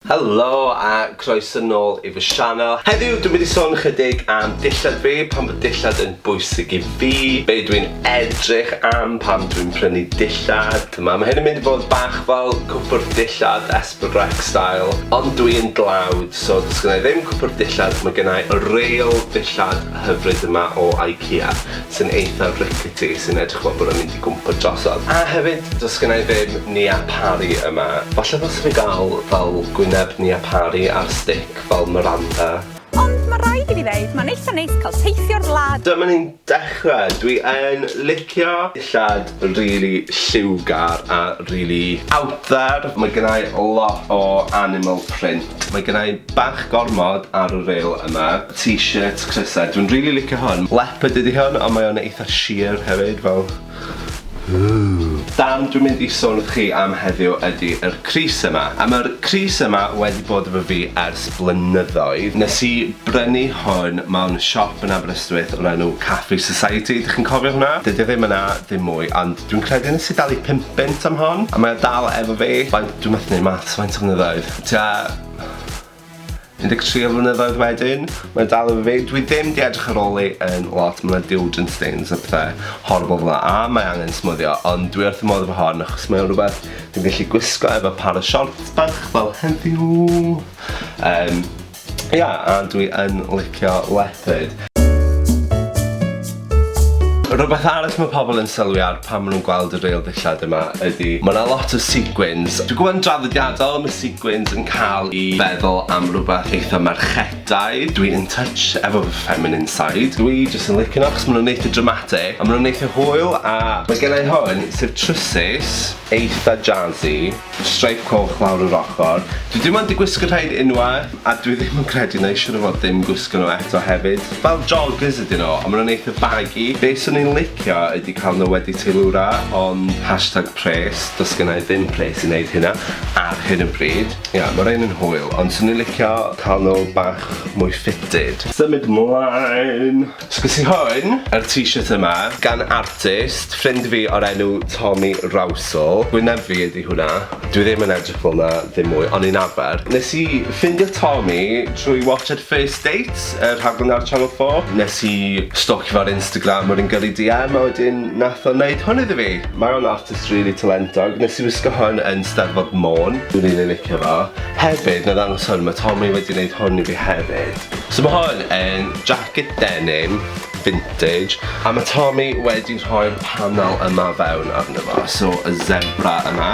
Helo a croeso nôl i fy sianel. Heddiw dwi'n mynd i sôn chydig am dillad fi, pam bod dillad yn bwysig i fi, be dwi'n edrych am pan dwi'n prynu dillad. T'ma' ma' hyn yn mynd i fod bach fel cwpwrdd dillad Esper Grec style, ond dwi yn dlawd so does gynna i ddim cwpwrdd dillad, ma' gynna i y real dillad hyfryd yma o IKEA. sy'n eitha rickety sy'n edrych fel bod e'n mynd i gwmpo drosodd. A hefyd, does gynna i ddim Niapari yma. Falle ddylse fi gael fel gwyneb Niapari ar stick fel Miranda. Ond ma raid i fi ddeud ma'n eitha neis cael teithio'r wlad. Dyma ni'n dechrau! Dwi yn licio dillad rili lliwgar a rili out there. Mae gennai lot o animal print. Mae gennai bach gormod ar y ril yma. T-shirts crysau, dwi'n rili licio hwn. Leopard ydi hwn ond mae o'n eitha sheer hefyd fel ooh. Darn dwi'n mynd i sôn wrth chi am heddiw ydi yr crys yma. A ma'r crys yma wedi bod efo fi ers blynyddoedd. Nes i brynu hwn mewn siop yn Aber y Rhywbeth o'r enw Cafe Society, dych chi'n cofio hwnna? Dydi o ddim yna ddim mwy, ond dwi'n credu nes i dalu pump punt am hon, a mae o dal efo fi. Faint, dwi methu neud maths, faint o flynyddoedd? Tua 13 o flynyddoedd wedyn, mae o dal efo fi. Dwi ddim 'di edrych ar ôl hi yn lot, ma' 'na deodorant stains a pethe horrible fel 'na, a mae angen smwddio, ond dwi wrth fy modd efo hon, achos mae o'n rwbeth dwi'n gallu gwisgo efo par o siorts bach fel heddiw. Yym. Ia, a dwi yn licio wledydd. Rhywbeth arall mae pobl yn sylwi ar pan maen nhw'n gweld y reil ddillad yma ydy mae yna lot o sequins. Dwi'n gwybod yn draddodiadol mae sequins yn cael i feddwl am rhywbeth eitha merchedau. Dwi in touch efo fy feminine side. Dwi jyst yn licio nhw achos maen nhw'n eitha dramatic a maen nhw'n eitha hwyl a mae gennau hwn sef trwsus eitha jazzy. Streip coch lawr yr ochr. Dwi dim ond 'di gwisgo rhaid unwaith a dwi ddim yn credu na'i siŵr o fod dim gwisgo nhw eto hefyd. Fel joggers ydyn nhw, ond ma' nhw'n eitha baggy. Be' swn i'n licio ydi cael nhw wedi teilwra, ond hashtag pres, does gennai ddim pres i wneud hynna ar hyn o bryd. Ia, ma' rhein yn hwyl, ond swn i'n licio cael nhw bach mwy fitted. Symud mlaen! Sgwrs i hwn, yr t-shirt yma, gan artist, ffrind fi o'r enw Tommy Rowsell. Wyneb fi ydi hwnna. Dwi ddim yn edrych fel 'na ddim mwy, ond ni'n arfer. Nes i ffindio Tommy trwy watshad First Dates, y rhaglen ar Channel 4. Nes i stalkio fo ar Instagram, wedyn gyrru DM, a wedyn nath o neud hwn iddo fi. Mae o'n artist rili talentog. Nes i wisgo hwn yn Steddfod Môn. Dwi'n rili licio fo. Hefyd, 'na ddangos hwn, ma' Tommy wedi neud hwn i fi hefyd. So ma' hwn yn Jacket denim, vintage, a ma' Tommy wedi rhoi'r panel yma fewn arno fo, so y zebra yma,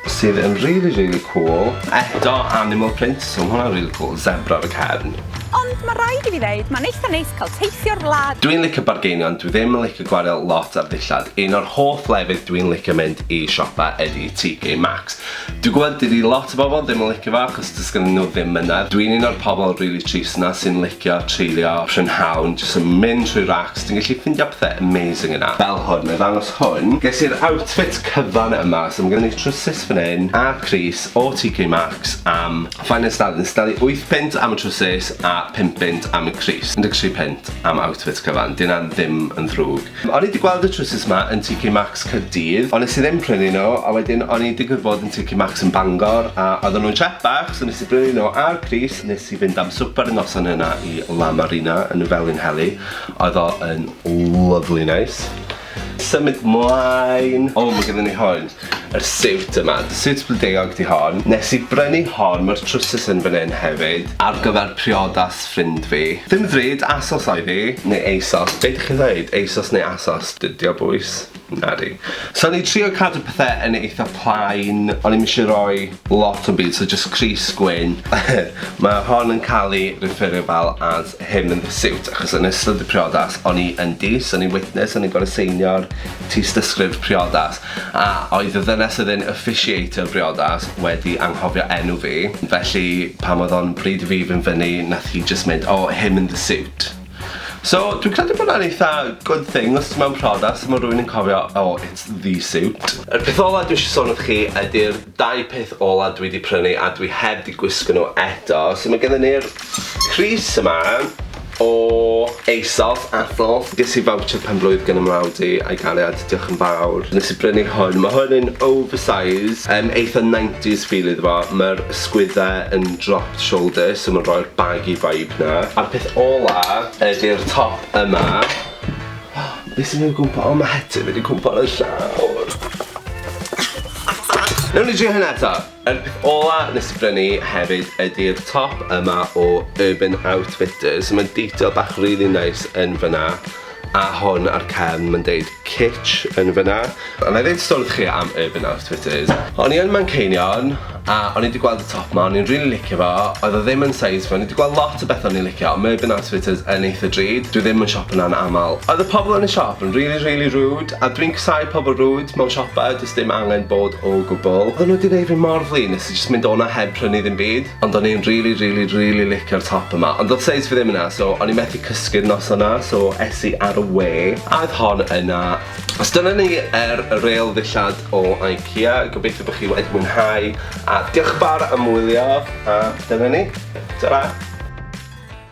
sydd yn rili rili cwl, eto animal print, so ma' hwnna'n rili cwl, zebra ar y cefn. Ond ma' raid i fi ddeud, ma'n eitha neis cael teithio'r wlad! Dwi'n licio bargeinio ond dwi ddim yn licio gwario lot ar ddillad, un o'r hoff lefydd dwi'n licio mynd i siopa ydi TK Maxx, Dwi gwbod dydi lot o bobl ddim yn licio fo achos does gynnyn nhw ddim mynedd. Dwi'n un o'r pobl rili trist 'na sy'n licio treulio prynhawn jyst yn mynd trwy racs, ti'n gallu ffindio pethe amazing yna. Fel hwn, na i ddangos hwn. Ges i'r outfit cyfan yma, so ma' gynnon ni trwsus fan hyn a crys o TK Maxx am faint nes dal, nes dalu wyth punt am y trwsus a pump punt am y crys. Un deg tri punt am outfit cyfan, 'di hynna ddim yn ddrwg. O'n i 'di gweld y trwsus 'ma yn TK Maxx Caerdydd, ond nes i ddim prynu nhw, a wedyn o'n i'n digwydd bod yn TK Maxx yn Bangor, a oedden nhw'n siap bach, so nes i brynu nhw ar pris, nes i fynd am swper y noson yna i La Marina yn y Felinheli, oedd o yn lyfli neis. Symud 'mlaen, o ma' gynna ni hwn. yr siwt yma. Siwt blodeuog 'di hon. Nes i brynu hon, ma'r trwsus yn fan 'yn hefyd, ar gyfer priodas ffrind fi. Dim ddrud, ASOS oedd 'i. Neu ASOS, be' 'dych chi'n ddeud? ASOS neu ASOS? Dydi o bois? Nadi. So o'n i trio cadw pethe yn eitha plain, o'n i'm isie roi lot o'm byd, so jyst crys gwyn. Ma' hon yn ca'l 'i referio fel as him in the suit, achos yn ystod y priodas o'n i yn dyst, so o'n i'n witness, o'n i'n gor'o' seinio'r tystysgrif priodas. A oedd y ddynes oedd yn officiatio'r briodas wedi anghofio enw fi, felly pan oedd o'n bryd i fi fynd fyny nath hi jyst mynd oh him in the suit. So dwi'n credu bod 'na'n eitha good thing os ti mewn priodas a ma' rywun yn cofio oh it's the suit. Yr peth ola dwi isio sôn wrth chi ydi'r dau peth ola dwi 'di prynu a dwi heb 'di gwisgo nhw eto. So ma' gennon ni'r Crys yma o ASOS, ASOS. Ges i voucher penblwydd gan 'y mrawd i a'i gariad, diolch yn fawr. Nes i brynu hwn, ma' hwn yn oversize, yym eitha nineties feel iddo fo, ma'r ysgwydde yn dropped shoulder, so ma'n rhoi'r baggy vibe 'na. A'r peth ola ydi'r top yma. Be' sy'n neud gwmpo-, o ma' het yn mynd i cwmpo ar 'yn llawr. Newn ni drio hyn eto. Yr peth ola nes i brynu hefyd ydi'r top yma o Urban Outfitters. Mae detail bach rili neis yn fyna a hwn ar cefn ma'n deud Kitsch yn fyna. A nai ddeud stori chi am Urban Outfitters. O'n i yn Manceinion a o'n i 'di gweld y top 'ma o'n i'n rili licio fo, oedd o ddim yn size fi, o'n i 'di gweld lot o bethe o'n i'n licio ond ma' Urban Outfitters yn eitha drud, dwi ddim yn siopo 'na'n amal. Oedd y pobol yn y siop yn rili rili rude. A dwi'n casau pobl rude mewn siopa, does dim angen bod o gwbl. Oedden nhw 'di neud fi mor flin, nes i jyst mynd o'na heb prynu ddim byd. Ond o'n i'n rili rili rili licio'r top yma, ond do'dd seis fi ddim yna, so o'n i methu cysgu'r noson 'na, so es i ar y we, a oedd hon yna. So dyna ni ar y rêl ddillad o IKEA, gobeithio bo' chi wedi mwynhau, a diolch yn fawr am wylio, a dyna ni. Ta-ra!